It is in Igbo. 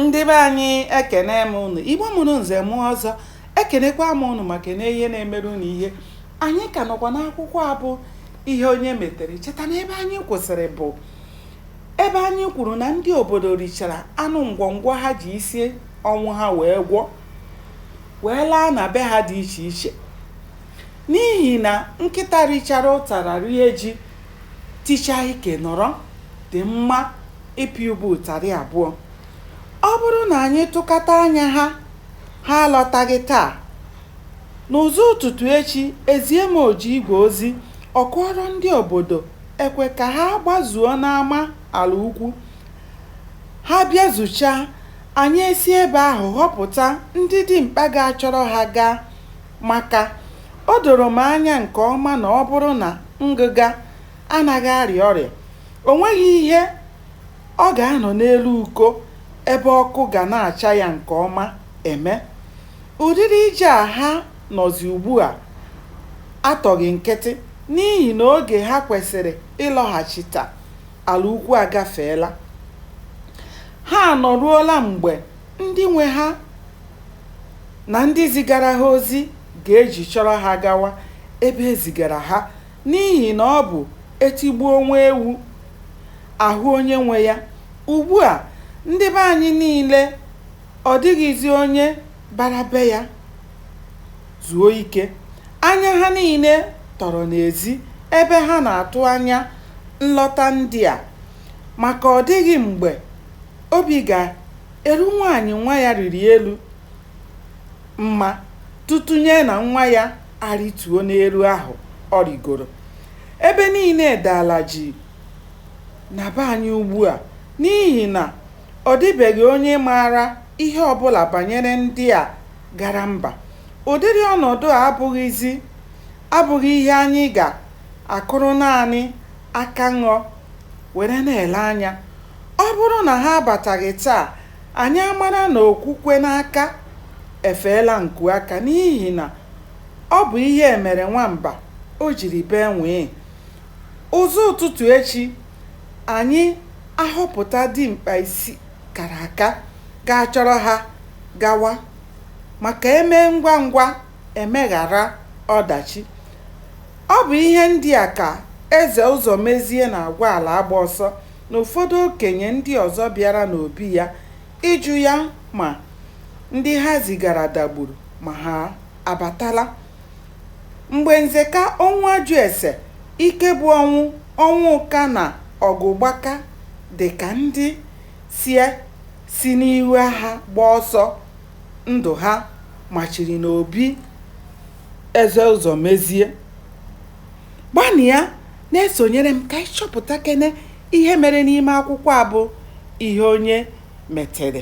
ndị be anyị ekenee m ụnụ igbo mụrụ nze mụọ ọzọ ekenekwaa m ụnụ ma kenee ihe na-emere ụnụ ihe anyị ka nọkwa n'akwụkwọ a bụ ihe onye metere cheta na ebe anyị kwụsịrị bụ ebe anyị kwuru na ndị obodo richara anụ ngwọngwọ ha ji isi ọnwụ ha wee gwọ wee laa na be ha dị iche iche n'ihi na nkịta richara ụtara rie ji ticha ike nọrọ dị mma ịpị ube ụtarị abụọ. Ọ bụrụ na anyị tụkata anya ha, ha alọtaghị taa. N'ụzọ ụtụtụ echi, e zie Mojiigwe ozi ọ kụọrọ ndị obodo ekwe ka ha gbazuo n'ama ala ukwu. Ha bịazuchaa, anyị esi ebe ahụ họpụta ndị dimkpa ga-achọrọ ha gaa maka o doro m anya nke ọma na ọ bụrụ na ngịga anaghị arịa ọrịa O nweghị ihe ọ ga-anọ n'elu uko ebe ọkụ ga na-acha ya nke ọma eme. Ụdịrị ije a ha nọzi ugbua atọghị nkịtị n'ihi na oge ha kwesịrị ịlọghachita ala ukwu agafeela. Ha anọruola mgbe ndị nwe ha na ndị zigara ha ozi ga-eji chọrọ ha gawa ebe e zigara ha N'ihi na ọ bụ e tigbuo nwa ewu, a hụ onye nwe ya. Ugbu a, ndị be anyị niile, ọ dịghịzi onye bara be ya zuo ike. Anya ha niile tọrọ n'ezi ebe ha na-atụ anya nlọta ndị a maka ọ dịghị mgbe obi ga-eru nwaanyị nwa ya rịrị elu mma tụtụnye na nwa ya arịtuo n'elu ahụ ọ rịgoro. Ebe niile daala jii na be anyị ugbua n'ihi na ọ dịbeghị onye maara ihe ọbụla banyere ndị a gara mba. Ụdịrị ọnọdụ a abụghịzị abụghị ihe anyị ga-akụrụ naanị aka ṅọ were na-ele anya. Ọ bụrụ na ha abataghị taa Anyị amara na okwukwe n'aka efeela nku aka n'ihi na ọ bụ ihe e mere nwamba o jiri bee nwịị. Ụzọ ụtụtụ echi, anyị ahọpụta dimkpa isi kara aka ga-achọrọ ha gawa maka e mee ngwa ngwa e meghara ọdachi. Ọ bụ ihe ndị a ka Eze Ụzọmezie na-agwa Alaagbaọsọ na ụfọdụ okenye ndị ọzọ bịara n'obi ya ịjụ ya ma ndị ha zigara dagburu ma ha abatala. Mgbe Nzeka, Ọnwụajụese, Ikebụọnwụ, Ọnwụka na Ọgụgbaka dị ka ndị si si n'ihu agha gba ọsọ ndụ ha machiri n'obi Eze Ụzọmezie, Ngwanụ ya na-esonyere m ka anyị chọpụtakene ihe mere n'ime akwụkwọ a bụ ihe onye metere.